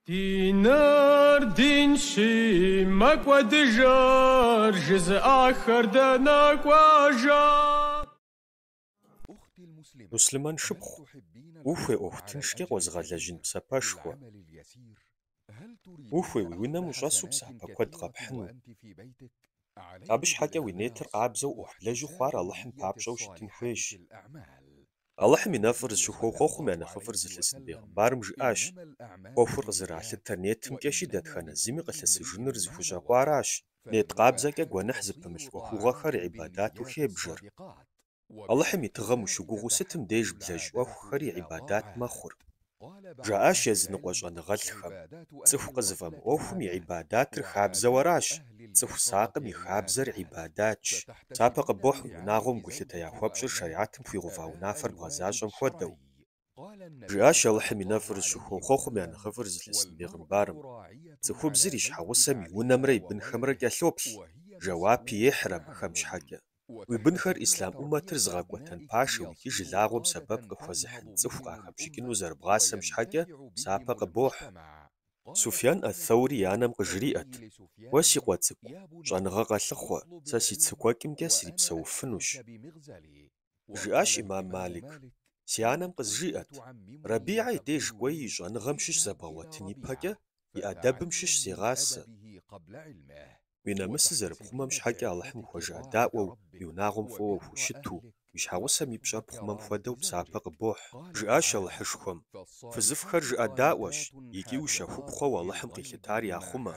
Диныр динщи, мэкӏуэдыжыр жызыӏахэр дэнэ кӏуэжа? Муслъымэн шыпхъу, ухуей ӏуэху тыншкӏэ къозыгъэлэжьын псапэшхуэ? Ухуей уи унэм ущӏэсу псапэ куэд къэпхьыну? Абы щхьэкӏэ уи нетыр къабзэу ӏуэху блэжу хъуар Алыхьым папщӏэу щытын хуейщ. Алыхьым и нэфӏыр зыщыхуэу хъуэхъум я нэхъыфӏыр зылъысын бегъымбарым жиӏащ, ӏуэхур къызэралъытэр нетымкӏэщи дэтхэнэ зыми къылъысыжыныр зыхущӏэкъуаращ. Нет къабзэкӏэ гуэныхь зыпымылъ ӏуэхугъуэхэр гӏибадату хебжэр. Алыхьым и тыгъэм ущыгугъыу сытым деж блэжь ӏуэхухэри гӏибадат мэхъур. жаӏащ языныкъуэ щӏэныгъэлӏхэм. Цӏыху къызыфӏэмыӏуэхум и гӏибадатыр хабзэу аращ, цӏыху сакъым и хабзэр гӏибадатщ. Псапэ къыбохь унагъуэм гулъытэ яхуэпщӏыр шэригьэтым хуигъэува унафэр бгъэзащӏэм хуэдэу. Жиӏащ Алыхьым и нэфӏыр щыхуэу хъуэхъум я нэхъыфӏыр зылъысын бегъымбарым, Цӏыхубзыр и щхьэгъусэм и унэмрэ и бынхэмрэ кӏэлъоплъ, жэуапи ехьыр абыхэм щхьэкӏэ. Уи бынхэр ислъам ӏуммэтыр зыгъэкӏуэтэн пашэу икӏи жылагъуэм сэбэп къыхуэзыхьын цӏыху къахэпщӏыкӏыну зэрыбгъасэм щхьэкӏэ псапэ къыбохь. Суфьян ат-Таури и анэм къыжриӏэт, Уэ, си къуэ цӏыкӏу, щӏэныгъэ къэлъыхъуэ, сэ си цыкӏуэкӏымкӏэ срипсэуфынущ. Жиӏащ ӏимам Малик, Си анэм къызжиӏэт, Рабигӏэ и деж кӏуэи и щӏэныгъэм щыщ зэбгъэгъуэтын ипэкӏэ, и ӏэдэбым щыщ зегъасэ. уи нэмысыр зэрыпхъумэм щхьэкӏэ Алыхьым ухуэжыӏэдаӏуэу, уи унагъуэм фӏыуэ ухущыту, уи щхьэгъусэм и пщӏэр пхъумэм хуэдэу псапэ къыбохь. Жиӏащ Алыхьышхуэм, Фызыфӏхэр жыӏэдаӏуэщ икӏи ущэхупхъэу Алыхьым къилъытар яхъумэ.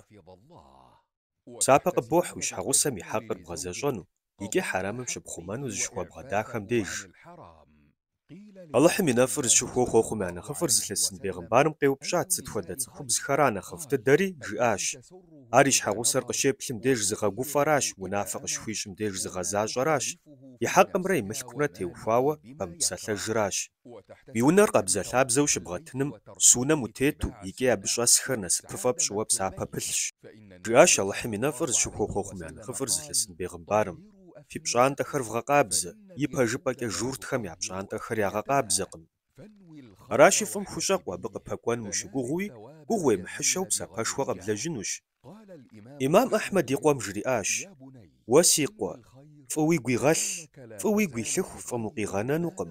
Псапэ къыбохь уи щхьэгъусэм и хьэкъыр бгъэзэщӏэну икӏи хьэрэмым щыпхъумэну зыщыхуэбгъэдахэм деж. Алыхьым и нэфӏыр зыщыхуэу хъуэхъум я нэхъыфӏыр зылъысын бегъымбарым къеупщӏат, Сыт хуэдэ цӏыхубзхэра нэхъыфӏ дыдэри? жиӏащ. Ар и щхьэгъусэр къыщеплъым деж зыгъэгуфӏэращ, унафэ къыщыхуищӏым деж зыгъэзащӏэращ, и хьэкъымрэ и мылъкумрэ теухуауэ пэмыпсэлъэжыращ. Уи унэр къабзэлъабзэу щыбгъэтыным, суннэм утету, икӏи абы щӏэсхэр насыпыфӏэ пщӏыуэ псапэ пылъщ, жиӏащ Алыхьым и нэфӏыр зыщыхуэу хъуэхъум я нэхъыфӏыр зылъысын бегъымбарым. Фи пщӏантӏэхэр вгъэкъабзэ, ипэжыпӏэкӏэ журтхэм я пщӏантӏэхэр ягъэкъабзэкъым. Аращи, фӏым хущӏэкъу абы къыпэкӏуэным ущыгугъыуи, гугъу уемыхьыщэу псапэшхуэ къэблэжьынущ. Имам Ахьмэд и къуэм жриӏащ, Уэ си къуэ, фӏы уигу игъэлъ, фӏы уигу илъыху фӏым укъигъэнэнукъым.